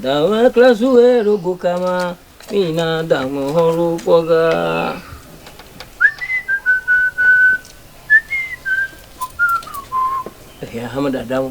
Dame kple zuwe ɖo go kama, mina dame hɔro kpɔga. Ehia hame dadawo.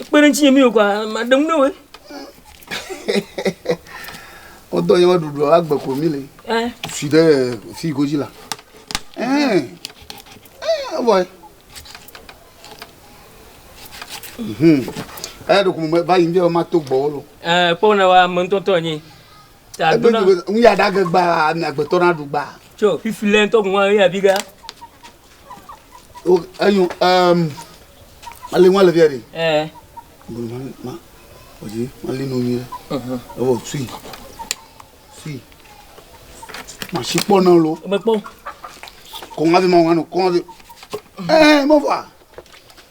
Ekpe ɖe ŋutinye mi wòkɔa, maɖe ŋu ne wòe. Wodɔ nye woɖuɖu agbe ko mi le. Fi ɖe fi godzi la. Evɔe. Eya ɖeko me va yi ŋdi ma to gbɔwo lo. Kpɔ ne wa me ŋutɔtɔ nye. Egbe ŋu ya ɖage gbaa, mi agbetɔ na ɖu gbaa. Tso fifi lɛ ŋutɔ guma eya bi ga. o enyo ɛɛm ali ŋua le fia ɖi. ɛɛ. bolo ma ma ɔdzi ma li nonyi ɖe. ɛhɛn ewɔ sui sui masi kpɔ na lo. mekpɔ. kɔn avi ma ŋua no kɔn avi ɛɛ mɔ fɔ a.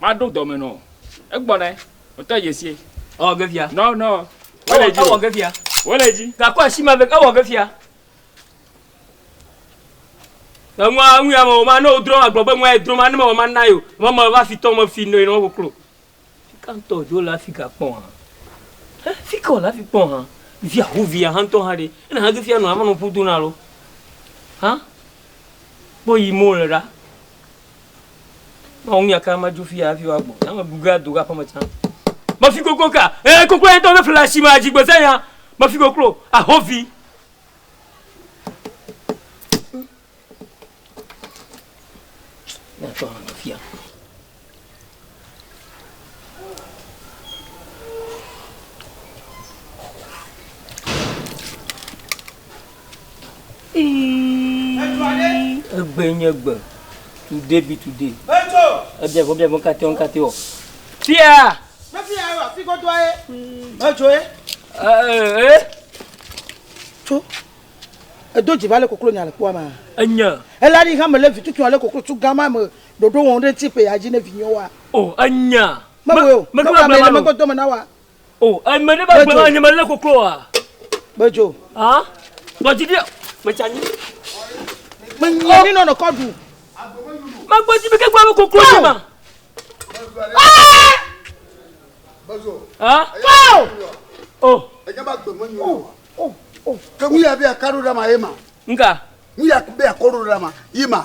Maɖo dɔme nɔ. Egbɔnɛ. Wotɔ Yesie. Ewɔ ge fia. Nɔ nɔ. Wole dzi. Ewɔ ge fia. Wole dzi. Gakɔ asi ma ve. Ewɔ ge fia. Eŋua ŋu ya me ma ne wodrɔ ma gblɔ be ŋua edrɔ ma ne mewɔ ma na yo. Mɔ me va fi tɔ me fi nɔ yi nɔ koklo. Fika ŋtɔ jo le afi ga kpɔ ha. He fika wole afi kpɔ ha. Via ho via ha ŋtɔ ha ɖe. Ena ha ge fia nɔ ama nɔ ƒu do na lo. Ha kpɔ yi mo le ɖa. Mawu ŋu yaka ma dzo fi ya hafi woagbɔ. Ya me gugla do go aƒeme tsã. Mefi koklo ka. Ee, koklo ya ŋutɔ ne ƒle asi me adzi gbeze ya. Mefi koklo. Ahovi. Ne atɔ hã mefi ya. egbe nye gbe today be today ebia gbɔ bia gbɔ katɛ wo katɛ wɔ fia. mefi ya wa fi gbɔdɔ ye medzo ye. ee. tso edo dzi va lé koklo nya le kpɔa ma. enya. ela ni hã me le vi tutu ale koklo tso gama me Ɖoɖo wɔm ɖe ŋuti ƒea dzi ne vinyewo wa. O, enya. Mewɔe o. Meɖo agblema me. Mewɔ megbe dome na wa. O, eme ɖe be agblema nye melé koklo wa. Gbedzo. Ha? Gbɔdzi ɖe. Metsi anyi. Menyi anyi nɔ nɔkɔ ɖu. Megbɔdzi mi ke gblɔ be koklo nye ma. Gbedzo. Ha? O. Enya be agbe menyi o. O, o. Ke ŋu ya be akaɖo ɖe ma ye ma. Nga. Ŋu ya be akɔɖo ɖe ma ye ma.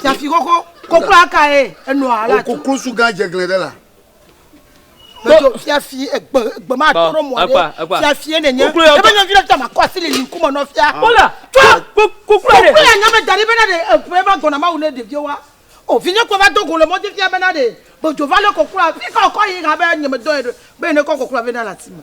Fiafi koko kokloa kae enɔa ala tu. Koklosu gã dzeglẽ ɖe la. Medzo fiafi egbe egbe ma tɔ ɖe mɔ ɖe fiafie nenye. Ebe nyɔvi ɖe ta ma kɔ asi le yi ŋkume nɔ fia. Kola tɔ kokloa ɖe. Kokloa nyame da ɖi bena ɖe eƒe va gbɔna mawu ne ɖeviwo wa. O vinye kɔ va do go le mɔdzi fia bena ɖe medzo va lé kokloa. Fi ka wòkɔ yi ha be nye medɔ ye be ne kɔ kokloa vɛ na le ati me.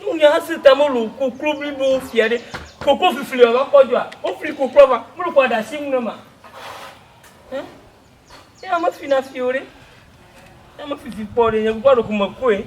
Nunya si ta melu koklo blibo fia ɖe? Koklo flifli wɔ va kpɔ dzɔa? Wofli kokloa vɔa, melu kɔ ɖe asi nu ne ma? Hẽ? Eya mefina fi o ɖe. Eya mefifi kpɔ ɖe, nye kukua ɖeko mekɔe.